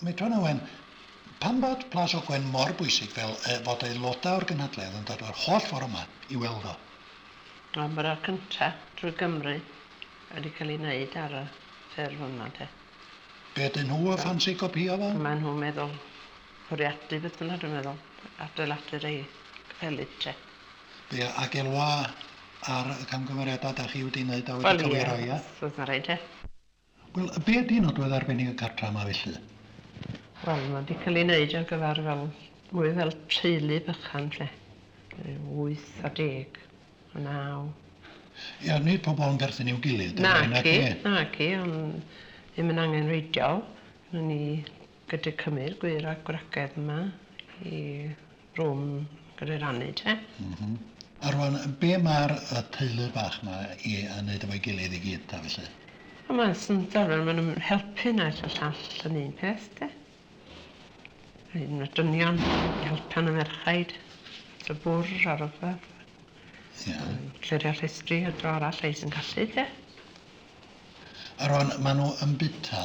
Medran Owen, Pam bod Plas Ogwen mor bwysig fel yy fod aelodau o'r gynhadledd yn dod yr holl ffordd yma i weld o? Wel mae'r ar cynta drwy Gymru wedi cael ei wneud ar y ffurf yma de. Be ydyn nhw a ffansi copïo fo? Mae nhw'n meddwl bwriadu beth bynnag dwi'n meddwl, adeiladu'r ei capeli te. Be ag elwa ar y camgymeriadau dach chi wedi wneud a wedi cywiro ia? Wel ia, os oes na rei te. Wel, be ydi nodwedd arbennig y cartra 'ma felly? Wel, ma' 'di ca'l 'i neud ar gyfar fel, mwy fel teulu bychan 'lly. Ryw wyth a deg, a naw. Ia, nid pobol yn perthyn i'w gilydd 'dyn nhw, naci? Naci, naci, ond ddim yn angenrheidiol. Ry'n ni gyda cymyr gwŷr a gwragedd yma i rwm gyda'i rannu te. M-hm. A rwan be ma'r yy teulu bach ma i yy neud efo'i gilydd i gyd ta felly? Wel mae'n syndod wel ma' nw'n helpu naill a llall yn un peth de. Mae un o'r dynion yn helpu yn y merchaid at y bwr a rwbath. Ie. A nw'n clirio llestri a dro arall rhei sy'n gallu te. A rwan ma' nw yn buta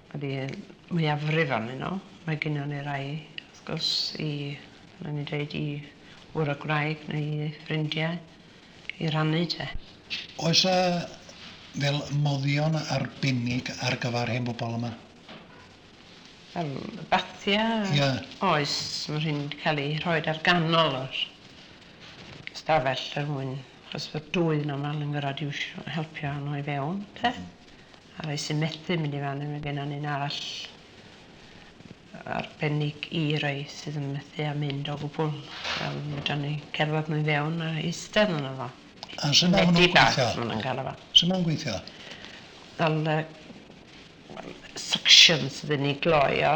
Ydy, mwyafrif ohonyn nhw. Mae gynnon ni rai, wrth gwrs, i, fel o'n i'n dweud, i wr y gwraig neu i ffrindiau i rannu te. Oes 'na fel moddion arbennig ar gyfer hen bobl yma? Fel bathia? Ie. Oes, mae rhein 'di cael eu rhoi ar ganol yr ystafell er mwyn, achos bod dwy yn aml yn gorfod iwsio, helpu a nhw i fewn te. A rhai sy'n methu mynd i fan hyn, mae gennon ni'n arall arbennig i rhai sydd yn methu a mynd o gwbl. Wel, fedran ni cerdded nhw i fewn a eistedd yno fo. A sut ma' hwnnw'n gweithio? Sut ma' hwnnw'n gweithio? Wel, suction sydd yn ei gloi o.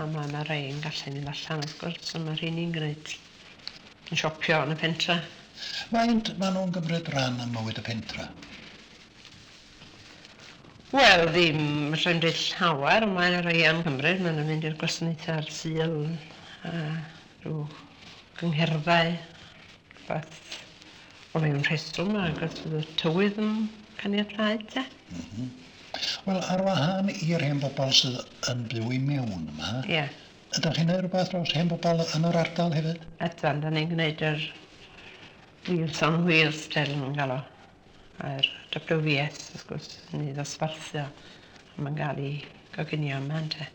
A ma' 'na rei yn gallu mynd allan wrth gwrs, a ma' rheiny'n gwneud... yn siopio yn y pentre. Faint ma' nhw'n gymryd ran ym mywyd y pentre? Wel, ddim, fedra i'm deud llawer, ond mae 'na rei yn cymryd, ma' nhw'n mynd i'r gwasanaethau ar Sul a rhyw gyngherddau. Rhywbeth o ryw rheswm ac os fydd y tywydd yn caniatáu te? M-hm. Wel, ar wahân i'r hen bobl sydd yn byw i mewn yma... Ie. ...ydach chi'n neud rhywbeth dros hen bobl yn yr ardal hefyd? Ydan, 'dan ni'n gneud yr Wheels on Wheels fel ma' nhw'n galw o. A'r WVS wrth gwrs yn ei ddosbarthio a ma'n ga'l ei goginio yma ynte.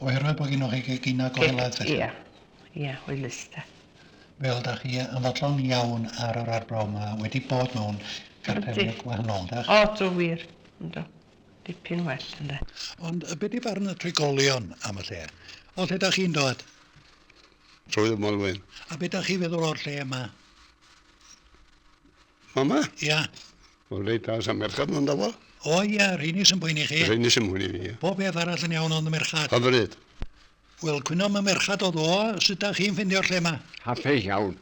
Oherwydd bo' gynnoch chi geginau go helaeth felly? Ia, ia, hwylus de. Wel, da chi yn fodlon iawn ar yr arbrawf ma, wedi bod mewn cartrefi gwahanol, ydych? O, do, wir. Yndw. Dipyn well, ynde. Ond be di barn y trigolion am y lle? O lle da chi'n dod? Swydd y Maelwyn. A be da chi feddwl o'r lle yma? Mama? Ia. Wel, reit dda, sa merchad ynddo fo. O ia, rheini sy'n poeni chi? Rheini sy'n poeni fi, ia. Pob beth arall yn iawn ond y merchad? Hyfryd. Wel cwyno ma merchad oedd o, sut dach chi'n ffindio'r lle ma? Hapus iawn.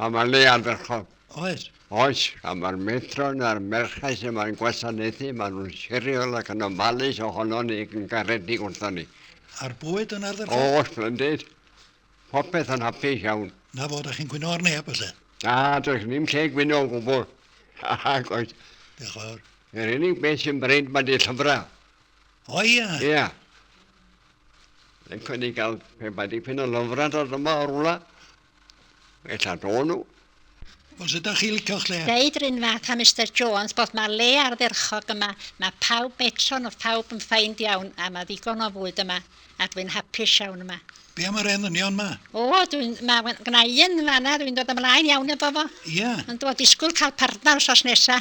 A mae'r le ardderchog. Oes. Oes, a mae'r metron a'r merched sy'n mae'n gwasanaethu, maen nhw'n siriol ac yn ofalus ohono ni ac yn garedig wrthon ni. A'r bwyd yn ardderchog? O, splendid. Popeth yn hapus iawn. Na fo, da chi'n gwyno ar neb felly? Na, does ddim lle gwyno o gwbl. Ac oes. Diolch fawr. Yr unig beth sy'n bryd mae di llyfrau. O ia? Ia. Yn cael ei gael pe bai dipyn o lyfrau dod yma o'r wla. Ella do nhw. Os ydych chi licio lle. Deud run fath a Mister Jones bod ma le ardderchog yma, ma pawb metro nhw phawb yn feind iawn a ma ddigon o fwyd yma a dwi'n hapus iawn yma. Be am yr elynion ma? O dwi'n ma gna i un fanna dwi'n dod ymlaen iawn efo fo. Ia? Yndw a disgwyl cael partner wsos nesa.